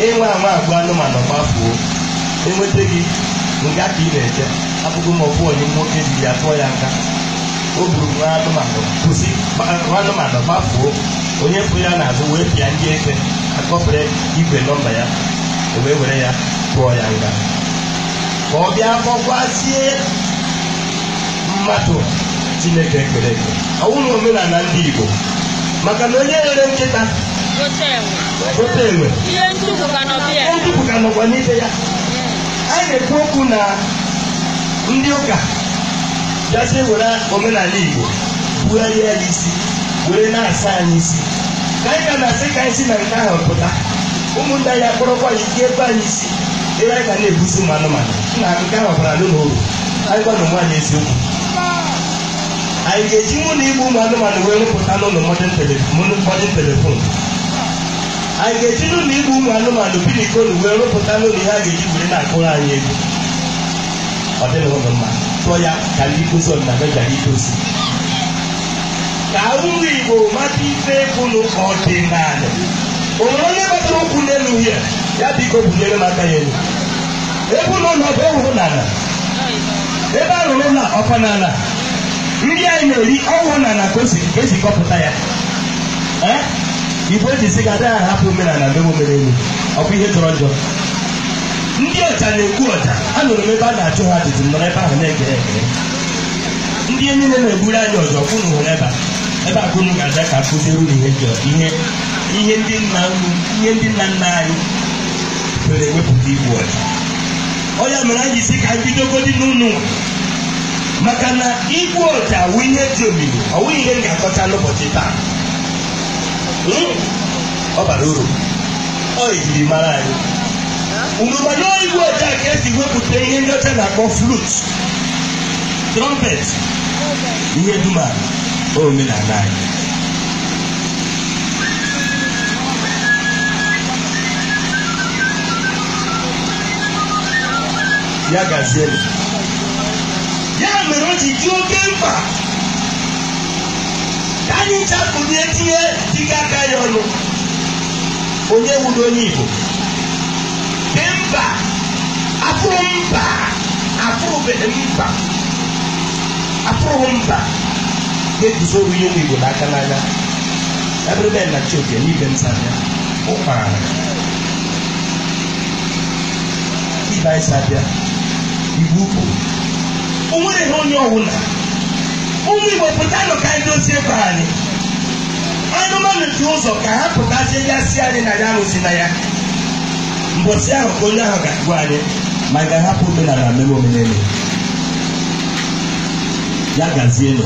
ị nwaa anwa agụ anụmanụ gbafuo enweta gị nga ka ị na-eje abụghị ma ọbụ onye nwoke ji ya tụọ ya nga o gburu nwa anụmanụ kwụsị nwa anụmanụ gbafuo onye fụ ya n'azụ wee pịa ndị eke akọpere igwe nọmba ya o wee were ya tụọ ya nga ka ọ bịa kpọkwazie mmadụ chineke kere eke ọ wụrụ omenala ndị igbo maka na onye rere nkịta ote enwe ihe ntukwu ka nọkwa n'ibe ya anyị na-ekwu okwu na ndị ụka bịazi were omenala igbo bugharịa ya isi were na-asa anyị isi ka anyị ka na-asị ka anyị si na nke ahụ pụta ụmụnne anyị akpọrọkwa ya ike ebe anyị si ebe anyị ga na-egbuzi ụmụ anụmanụ na nke ahụ baranụ uru anyị gwanụ onwe anyị eziokwu anyị ga-ejinụ igbu ụmụ anụmanụ wee rụpụtanụ modern tele- modern- modern telefon anyị ga-ejinụ igbu ụmụ anụmanụ bikonụ wee rụpụtanụ ihe a ga-eji were na-akụrụ anyị ego ọ dịghịnụ mma tụọ ya ka ndị nkụzi ọdịnala gara idozi ka ụmụ igbo mata ife bụnụ ọdịnala o nwere onye gbatara ụkwụ n'elu ya ya biko bunyere m aka ya elu ebe ụlọ nọ bụ ewuru n'ala ebe a rụrụ ụlọ ọkwa n'ala nri anyị na-eri ọ wụ n'ala ka o si ka esi kọpụta ya Eh? igbo ji sị na adịghị ahapụ omenala mee omenelu ọ bụ ihe jọrọ njọ ndị ọja na-egbu ọja anụrụ m ebe a na-ajụ ha ajụjụ m nọrọ ebe ahụ na-ege ege ndị enyi na na-egburu anyị ọja ka unu hụrụ ebe a ebe a ka unu ga-aga ka akụziere unu ihe njọ ihe ihe ndị nna unu ihe ndị nna nna anyị were wepụta igbu ọja ọ ya mere anyị sị ka anyị bidogodi n'ụlọ maka na igbu ọja wụ ihe dị omimi ọ wụghị ihe m ga-akọcha n'ụbọchị taa Hmm? ọ bara uru ọ ejiri mara anyị unu ma na igbu ọja ka esi wepụta ihe ndị ọcha na-akpọ flut trọmpet ihe dum a ọ omenala anyị ya gaziere ya mere o ji dị oke mkpa ka anyị chapụrụ etinye dịka aka ya ọnụ onye wụrụ onye Igbo dị mba afụrụ mba afụrụbeghị mba afụrụghị mba ga-eguzoro ihe ụmụ Igbo n'aka n'anya ebe na chioke n'ibe nta ya ụkpara Ibe anyị si abịa Igbo Ukwu o nwere ihe onye ọwụla ụmụ Igbo pụtanụ ka anyị dozie ebe anyị anụmanụ dị ụzọ ka ha pụtazie ya si anyị na ya arụzi na ya mbọsị ahụ ka onye ahụ ga-agwa anyị ma anyị ga-ahapụ omenala mere omenelu ya gazienụ